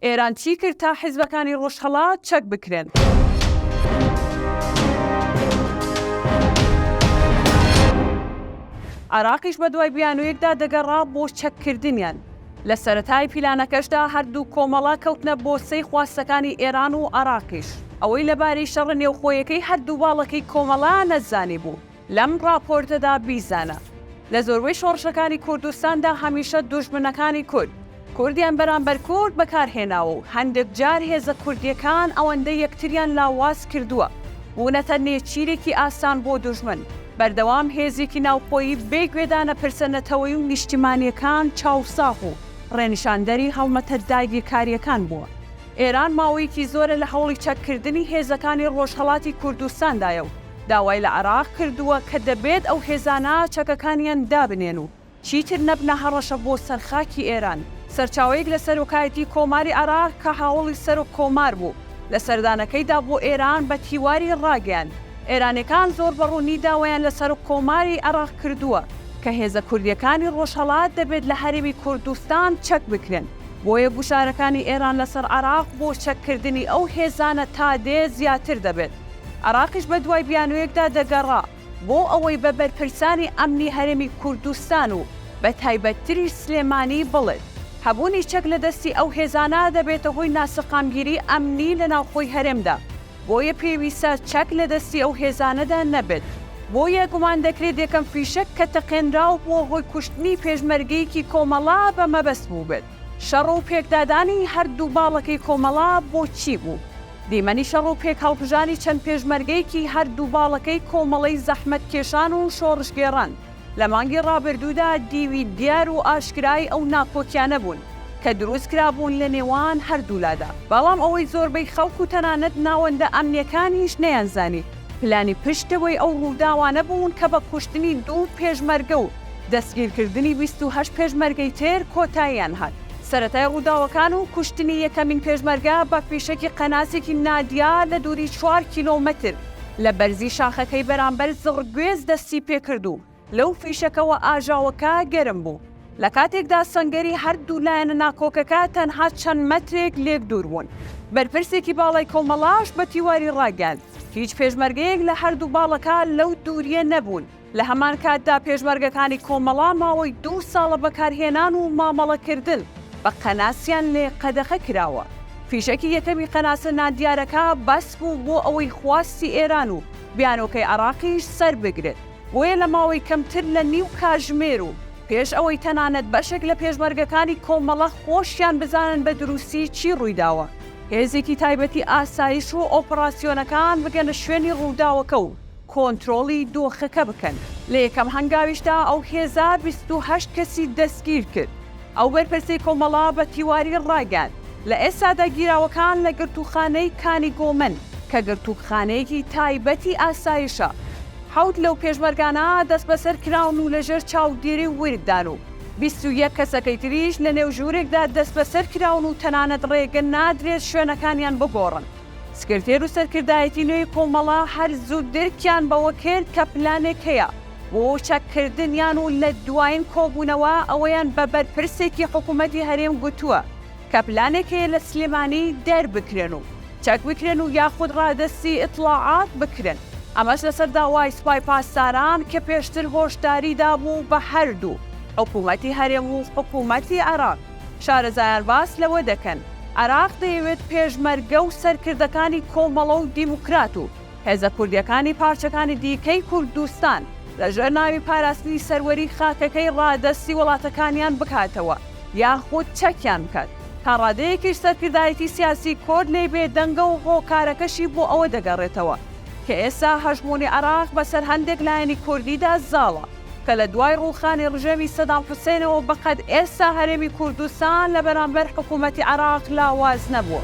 ئێران چی کرد تا حیزبەکانی ڕۆژهەڵات چەک بکرێن؟ عێراقیش بەدوای بیانوویەکدا دەگەڕا بۆ چەککردنیان. لە سەرەتای پیلانەکەشدا هەردوو کۆمەڵە کەوتنە بۆسەی خواستەکانی ئێران و عێراقیش. ئەوەی لەباری شەڕە نێوخۆیەکەی هەردوو باڵەکەی کۆمەڵە نەزانیبوو، لەم ڕاپۆرتەدا بیزانە، لە زۆربەی شۆڕشەکانی کوردستاندا هەمیشە دوژمنەکانی کورد، کوردیان بەرامبەر کورد بەکارهێناوە و هەندێک جار هێزە کوردییەکان ئەوەندە یەکتریان لاواز کردووە، بوونەتە نێچیرێکی ئاسان بۆ دوژمن، بەردەوام هێزێکی ناوخۆیی بێ گوێدان لە پرسە نەتەوەیی و نیشتیمانییەکان چاوساغ و ڕێنیشاندەری هەڵمەتە داگیرکارییەکان بووە. ئێران ماوەیەکی زۆرە لە هەوڵی چەککردنی هێزەکانی ڕۆژهەڵاتی کوردستاندایە و، داوای لە عێراق کردووە کە دەبێت ئەو هێزانە چەکەکانیان دابنێن و چیتر نەبنە هەڕەشە بۆ سەر خاکی ئێران. سەرچاوەیەک لە سەرۆکایەتی کۆماری عێراق کە هاوەڵی سەرۆک کۆمار بوو لە سەردانەکەیدا بۆ ئێران بە تیواری ڕاگەیاند، ئێرانیەکان زۆر بە ڕوونی داوایان لە سەرۆک کۆماری عێراق کردووە کە هێزە کوردیەکانی ڕۆژهەڵات دەبێت لە هەرێمی کوردستان چەک بکرێن، بۆیە گوشارەکانی ئێران لەسەر عێراق بۆ چەککردنی ئەو هێزانە تا دێ زیاتر دەبێت. عێراقیش بە دوای بیانوویەکدا دەگەڕا بۆ ئەوەی بە بەرپرسانی ئەمنی هەرێمی کوردستان و بە تایبەتتریش سلێمانی بڵێت، هەبوونی چەک لە دەستی ئەو هێزانە دەبێتە هۆی ناسەقامگیری ئەمنی لە ناوخۆی هەرێمدا، بۆیە پێویستە چەک لە دەستی ئەو هێزانەدا نەبێت. بۆیە گومان دەکرێت یەکەم فیشەک کە تەقێنرا و بووە هۆی کوشتنی پێشمەرگەیەکی کۆمەڵە بە مەبەست بووبێت. شەڕ و پێکدادانی هەردوو باڵەکەی کۆمەڵە بۆ چی بوو؟ دیمەنی شەڕ و پێکهەڵکوژانی چەند پێشمەرگەیەکی هەر دوو باڵەکەی کۆمەڵەی زەحمەتکێشان و شۆڕشگێڕان لە مانگی ڕابردوودا دیوی دیار و ئاشکرای ئەو ناکۆکیانە بوون کە دروست کرابوون لە نێوان هەر دوو لادا. بەڵام ئەوەی زۆربەی خەڵک و تەنانەت ناوەندە ئەمنییەکانیش نەیانزانی پلانی پشتەوەی ئەو ڕووداوانە بوون کە بە کوشتنی دوو پێشمەرگە و دەستگیرکردنی بیست و هەشت پێشمەرگەی تر کۆتاییان هات. سەرەتای ڕووداوەکان و کوشتنی یەکەمین پێشمەرگە بە فیشەکی قەناسێکی نادیار لە دووری چوار کیلۆمەتر لە بەرزی شاخەکەی بەرامبەر زڕگوێز دەستی پێکرد و لەو فیشەکەوە ئاژاوەکە گەرم بوو، لە کاتێکدا سەنگەری هەردوو لایەنە ناکۆکەکە تەنها چەند مەترێک لێک دوور بوون. بەرپرسێکی باڵای کۆمەڵەش بە تیواری ڕاگەیاند، هیچ پێشمەرگەیەک لە هەردوو باڵەکە لەو دوورییە نەبوون. لە هەمان کاتدا پێشمەرگەکانی کۆمەڵە ماوەی دوو ساڵە بەکارهێنان و مامەڵەکردن بە قەناسیان لێ قەدەغە کراوە، فیشەکی یەکەمی قەناسە نادیارەکە بەس بوو بۆ ئەوەی خواستی ئێران و بیانۆکەی عێراقیش سەربگرێت، بۆیە لە ماوەی کەمتر لە نیو کاژمێر و پێش ئەوەی تەنانەت بەشێک لە پێشمەرگەکانی کۆمەڵە خۆشیان بزانن بە دروستی چی ڕوویداوە، هێزێکی تایبەتی ئاسایش و ئۆپەراسیۆنەکان بگەنە شوێنی ڕووداوەکە و کۆنترۆڵی دۆخەکە بکەن. لە یەکەم هەنگاویشدا ئەو هێزە بیست و هەشت کەسی دەستگیر کرد. ئەو بەرپرسەی کۆمەڵە بە تیواری ڕایگەیاند، لە ئێستادا گیراوەکان لە گرتووخانەی کانی گۆمن کە گرتووکخانەیەکی تایبەتی ئاسایشە، حەوت لەو پێشمەرگانە دەستبەسەر کراون و لەژێر چاودێری ورددان و بیست و یەک کەسەکەی تریش لەنێو ژوورێکدا دەستبەسەر کراون و تەنانەت ڕێگە نادرێت شوێنەکانیان بگۆڕن. سکرتێر و سەرکردایەتی نوێی کۆمەڵە هەر زوو درکیان بەوە کرد کە پلانێک هەیە بۆ چەککردنیان و لە دوایین کۆبوونەوە ئەوەیان بە بەرپرسێکی حکوومەتی هەرێم گوتووە کە پلانێک هەیە لە سلێمانی دەربکرێن و چەک بکرێن و یاخود ڕادەستی ئیتڵاعات بکرێن، ئەمەش لەسەر داوای سپای پاسداران کە پێشتر هۆشداری دابوو بە هەردوو حکوومەتی هەرێم و حکوومەتی عێراق. شارەزایان باس لەوە دەکەن، عێراق دەیەوێت پێشمەرگە و سەرکردەکانی کۆمەڵە و دیموکرات و هێزە کوردییەکانی پارچەکانی دیکەی کوردستان لەژێر ناوی پاراستنی سەروەری خاکەکەی ڕادەستی وڵاتەکانیان بکاتەوە یاخود چەکیان بکات، تا ڕادەیەکیش سەرکردایەتی سیاسی کورد لێی بێدەنگە و هۆکارەکەشی بۆ ئەوە دەگەڕێتەوە کە ئێستا هەژموونی عێراق بەسەر هەندێک لایەنی کوردیدا زاڵە. کە لە دوای ڕووخانی ڕژێمی سەدام حوسێنەوە بە قەد ئێستا هەرێمی کوردستان لە بەرامبەر حکوومەتی عێراق لاواز نەبووە.